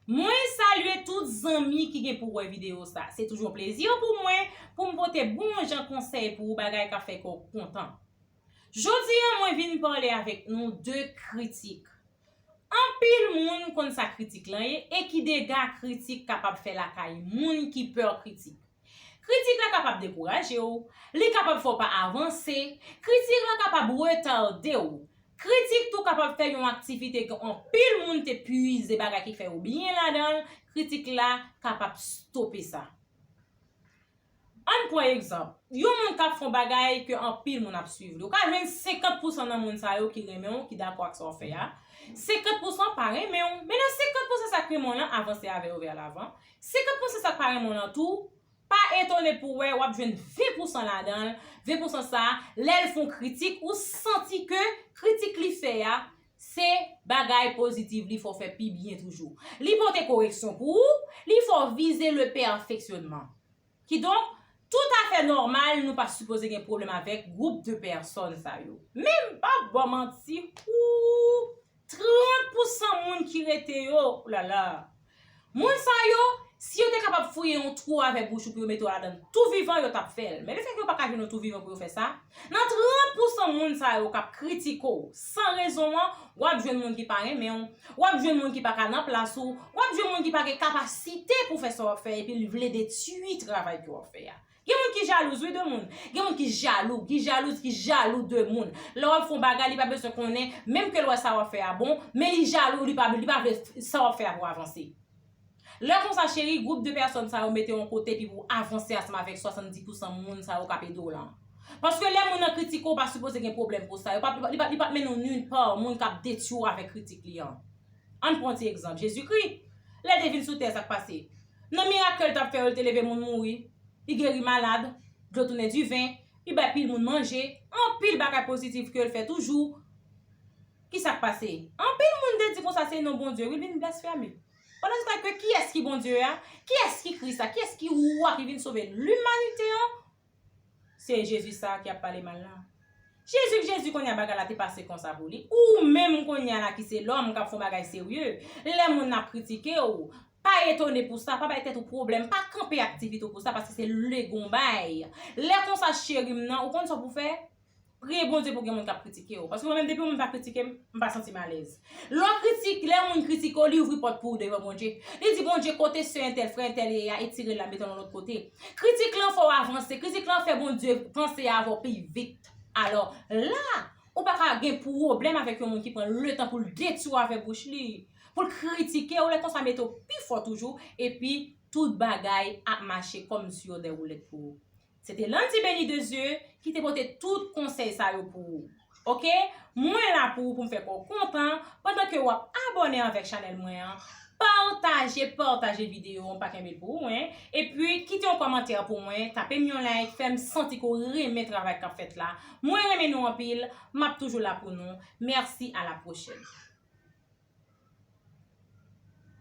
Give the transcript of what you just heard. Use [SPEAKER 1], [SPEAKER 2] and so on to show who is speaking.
[SPEAKER 1] Mwen salye tout zanmi ki gen pou wè video sa. Se toujou yon plezi pou mwen pou m pote bon jan konsèy pou ou bagay kap fè kè w kontan. Jodi an mwen vin pale avèk nou de kritik. Anpil moun konn sa kritik lan ye e ki dega kritik kapab fè lakay moun ki pè kritik. Kritik la kapab dekouraje w, li kapab fè w pa avanse, kritik la kapab retade w, kritik tou kapab fè yon aktivite ke anpil moun te pwize bagay ki fè yo byen ladan l, kritik la kapab stope sa. An n pran egzanp, yon moun k ap fè yon bagay ke anpil moun ap swiv li, ou ka jwenn 50 pousan nan moun sa yo ki renmen w, ki dakò ak sa w fè a, 50 pousan pa renmen w, men nan 50 pousan sa k renmen w lan avanse avè yo vè lavan, Si kap panse sak pa renmen w lan tou, pa etone pou wè wap jwenn 20 pousan ladan l, 20 pousan sa lè l fon kritik ou santi ke kritik li fè a se bagay positive li fè w fè pi byen toujou. Li pote koreksyon pou ou, li fè w vize le pèfeksyonman. Kidonk, tout a fè nòmal nou pa sipoze gen pwoblèm avèk gwoup de pèsòn sa yo. Men m pa p ba w manti, ooh! 30 pou san moun ki rete yo, oulala! Moun sa yo, si yo te kapab fouye yon twou avèk bouch ou pou yo mete w ladan l tou vivan, yo t ap fè l. Men lefètke yo pa ka jwenn yon twou vivan pou yo fè sa, Nan 30 pousan moun sa yo k ap kritike w san rezon an, w ap jwenn moun ki pa renmen w, w ap jwenn moun ki pa ka nan plas ou, w ap jwenn moun ki pa gen kapasite pou fè sa w ap fè epi l vle detui travay ke w ap fè a. Gen moun ki jalouz wi de moun. Gen moun ki jalou, ki jalouz, ki jalou de moun. Lè w ap fè yon bagay li pa bezwen konnen, menm ke l wè sa w ap fè a bon, men li jalou, li pa vle sa w ap fè a pou avanse. Lè konsa cheri gwoup de pèsòn sa yo mete w yon kote epi pou avanse asnm avèk 70 pousan moun sa yo kap ede w lan. Paske lè moun nan kritike w pa sipoze gen pwoblèm pou sa, li pap mennen w nulle part moun kap detwi w avèk kritik li an. Ann pran yon ti egzanp, Jezikri, lè l te vin sou tè sak pase? Nan mirak ke l tap fè yo li te leve moun mouri, li geri malad, dlo tounen diven, li bay pil moun manje, anpil bagay pozitif ke l fè toujou. Kisa k pase? Anpil moun te di konsa se non Bondye wi vin blasfeme. Pandan se tan ke kiyès ki Bondye a? Kiyès ki Kris la? Kiyès ki Wa ki vin sove limanite an? Se Jezi sa a ki ap pale mal la. Jezi k Jezi kounye a bagay la te pase konsa pou li. Ou menm kounye a la ki se lòm k ap fè yon bagay serye, lè moun ap kritike ou, pa etone pou sa, pa bay tèt ou pwoblèm, pa kanpe aktivite ou pou sa paske se lè gon bay. Lè konsa cheri m nan, ou konn sa w pou fè? Priye Bondye pou gen moun k ap kritike w. Paske mwen menm depi yon moun pa kritike m, m pa santi m alèz. Lè w kritik, lè yon moun kritike w, li ouvri pòt pou ou devan Bondye. Li di Bondye kote sè entèl, frè entèl ye a, etire l la mete l yon lòt kote. Kritik lan fè w avanse, kritik lan fè Bondye panse avè w pi vit. Alò, la, ou pa ka gen pwoblèm avèk yon moun ki pran letan pou l detwi w avèk bouch li, pou l kritike w, lè konsa mete w pi fò toujou, epi tout bagay ap mache kòm sou yon dèwoulèt pou ou. Se te Landy Beny de Dieu ki te pote tout konsèy sa yo pou ou ok mwen la pou ou poum fè kòw kontan pandan ke wap abòne avèk chanèl mwen an pataje pataje video an pa kenbe pou ou hein epi kite yon kòmantè pou mwen tapem yon like fèm santi ke w renmen travay kap fèt la mwen renmen nou anpil map toujou la pou nou merci à la prochaine.